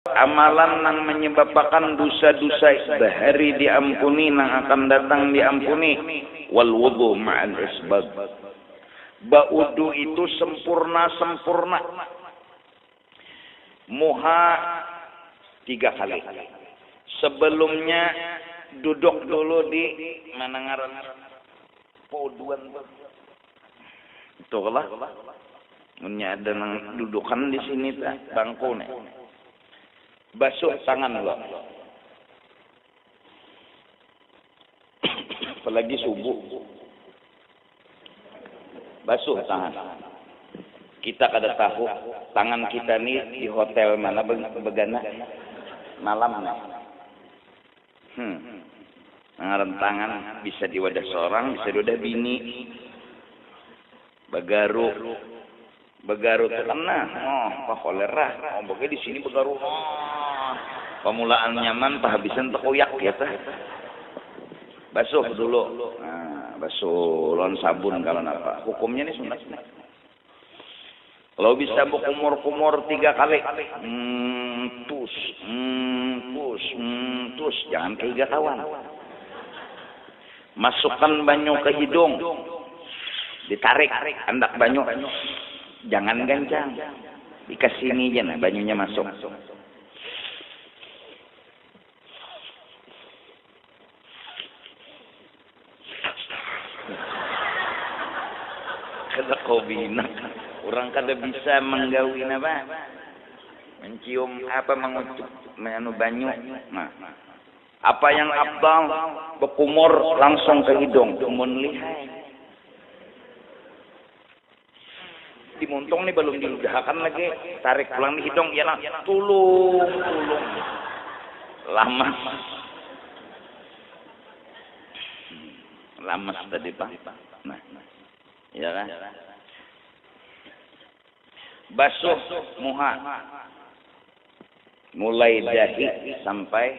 Amalan nang manyababakan dusa-dusa bahari diampuni nang akan datang diampuni, wal wudhu ma'al isbagh. Ba'udhu itu sempurna-sempurna. Muha tiga kali. Sebelumnya duduk dulu di mana ngarannya pauduan tu. Tuhlah, munnya ada nang dudukan di sini tu bangku nih, basuh tangan lo. Apalagi subuh, basuh tangan. Kita kada tahu tangan kita nih di hotel mana begana malam nih. Hum. Ngaran tangan bisa di wadah sorang, bisa di wadah bini. Bagaru. Bagaru tu kan nah, oh pa kolera. Oh bagai di sini bagaru nah. Pamulaan nyaman, pahabisan takuyak ya kah. Basuh dulu. Nah, basuh lawan sabun kalo napa. Hukumnya ni sunat nih. Kalau bisa bakumur-kumur tiga kali, mtus, mtus, mtus, jangan kahiga kawan. Masukkan banyu ke hidung, ditarik andak banyu, jangan gancang, dikasini ja nah banyunya masuk. Kada kawinak. Urang kada bisa manggawi napa? Mancium apa mangucup anu banyu. Nah. Apa yang afdal? Bakumur langsung ka hidung. Mun lihai. Di muntung ni balum di ludahakan lagi, tarik pulang di hidung iya nah, tulung tulung lamas. Lamas tadi pang. Nah, iya kah? Basuh muha mulai dahi sampai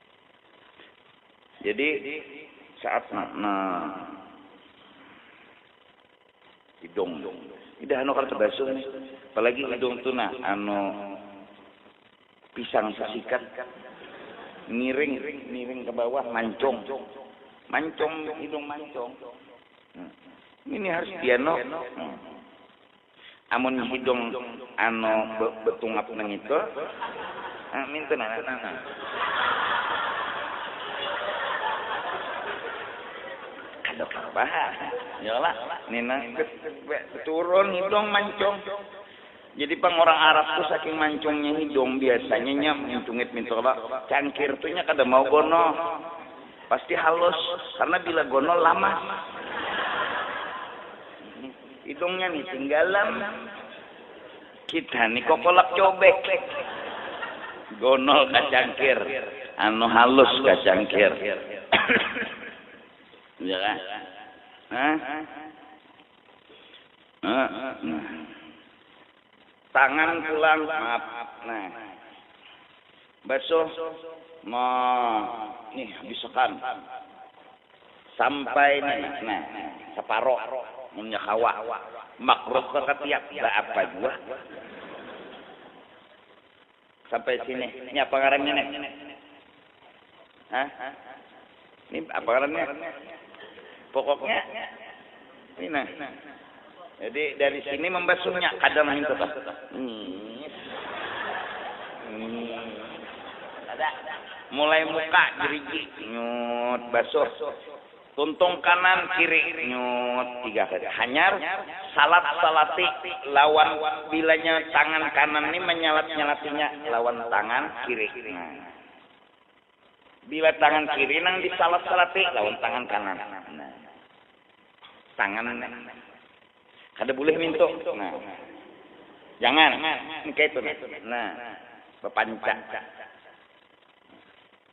Jadi saat na, na hidung idah anu kada basuh nih apalagi hidung tu nah anu pisang sasikat miring miring ke bawah mancung mancung hidung mancung ini harus dianu Amun hidung anu be betungap nangitu, nah nintu nah, nah nah. Kada pang bahan, ya lah. Nina turun hidung mancung. Jadi pang urang Arab tu saking mancungnya hidung, biasanya inya mencungit nintu kalo, cangkir tu inya kada mau gonol. Pasti halus, karena bila gonol lamas. Hidungnya nih tinggalan. Kita nih kokolak cobek. Gonol ka cangkir. Anu halus ka cangkir. Iya kah? Hah? Nah. Tangan pulang maap nah. Basuh ma nih habis akan sampai nih nah saparo munnya kawa makruh ka katiak baapa jua. Sampai sini. Ini apa ngarannya nih? Hah? Ini apa ngarannya? Pokoknya ini nah. Jadi dari sini membasuhnya kadang itu tuh. Hmm. Hmm. Ada mulai muka gerigi nyut basuh Tuntung kanan kiri nyut tiga kali hanyar salat salati lawan bilanya tangan kanan ni manyalat nyalatinya lawan tangan kiri nah bila tangan kiri nang di salat salati lawan tangan kanan nah tangan kada bulih mintu nah jangan nang kaitu nah bapanca.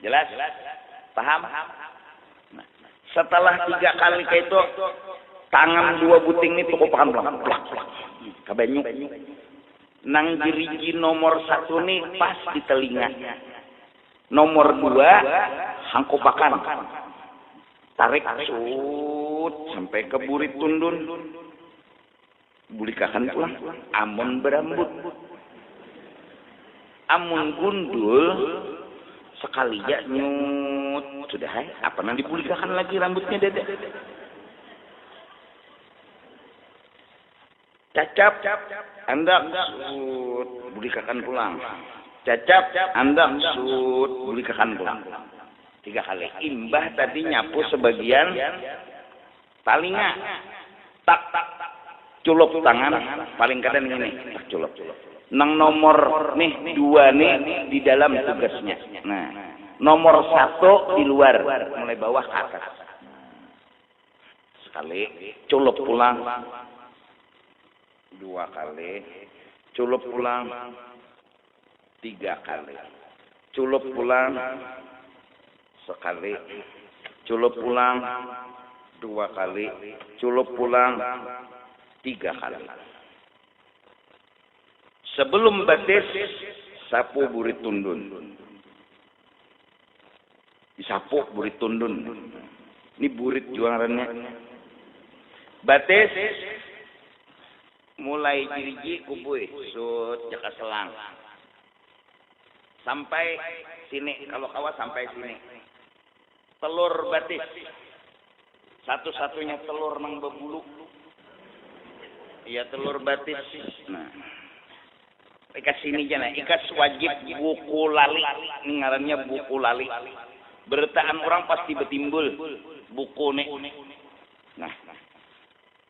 Jelas? Paham? Setelah tiga kali kayak itu, tangan dua buting ini tukup akan pulang. Plak, plak. Kabanyu. Nang jeriji nomor satu ini pas di telinga. Nomor dua, hangkupakan. Tarik, sut, sampai ke burit tundun. Bulikakan pulang amun barambut. Amun gundul sakali ja nyuut sudah ai, apa nang dibulikakan lagi rambutnya dada. Cacap andak suut bulikakan pulang, cacap andak suut bulikakan pulang tiga kali imbah tadi nyapu sabagian. Talinga, tak culup tangan, paling kada ngini, tak culup. Nang nomor nih dua ni di dalam tugasnya. Nah, nomor satu di luar, mulai bawah ka atas. Sekali, culup pulang. Dua kali, culup pulang. Tiga kali. Culup pulang sakali. Culup pulang dua kali. Culup pulang tiga kali. Sebelum batis, sapu burit tundun. Disapu burit tundun. Ini burit jua ngarannya. Batis. Mulai jiriji kubuy sut jaka selang sampai sini kalu kawa sampai sini telur batis satu satunya telur nang babulu iya telur batis nah ikas sini ja nah ikas wajib buku lali ni ngarannya buku lali berataan urang pasti batimbul buku ni nah.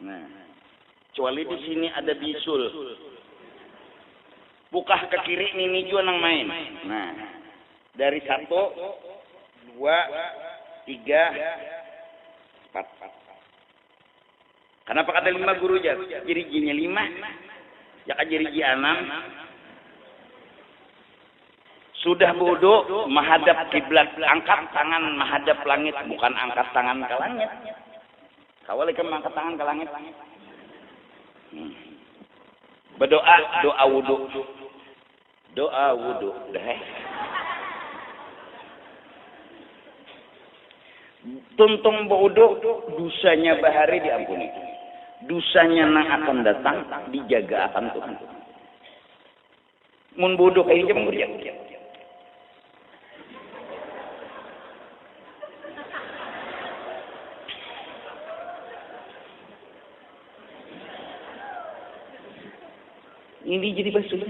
Nah, cuali di sini ada bisul. Bukah ke kiri nini jua nang main. Nah, dari satu, dua, tiga, empat. Kanapa kada lima guru jar? Jirijinya lima, jaka jiriji anam. Sudah budu, mahadap kiblat. Angkat tangan mahadap langit, bukan angkat tangan ka langit. Kawa ikam mangkat tangan ka langit. Hmm. Berdoa, doa wudu. Doa wudu. Dah eh. Tuntung berwudu, dosanya bahari diampuni. Dosanya nang akan datang dijaga akan Tuhan. Mun bodoh kaya ikam mun jar. Ini jadi basuh.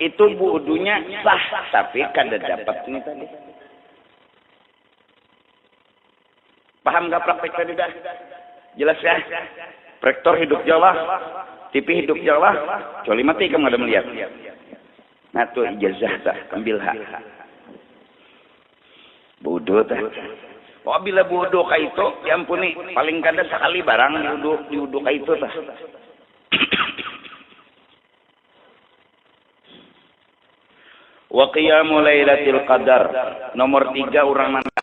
Itu buudunya sah tapi kada dapat ni tadi. Paham kah praktik tadi dah? Jelas kah? Prektor hidup ja lah, TV hidup ja lah, kecuali mati ikam kada melihat. Nah tu ijazah tu, ambil ha. Budu teh. Pokok bila budu kaitu, diampuni. Paling kada sakali barang diudu diudu kaitu teh. Wa qiyamu lailatil qadar. Nomor tiga urang nang kada.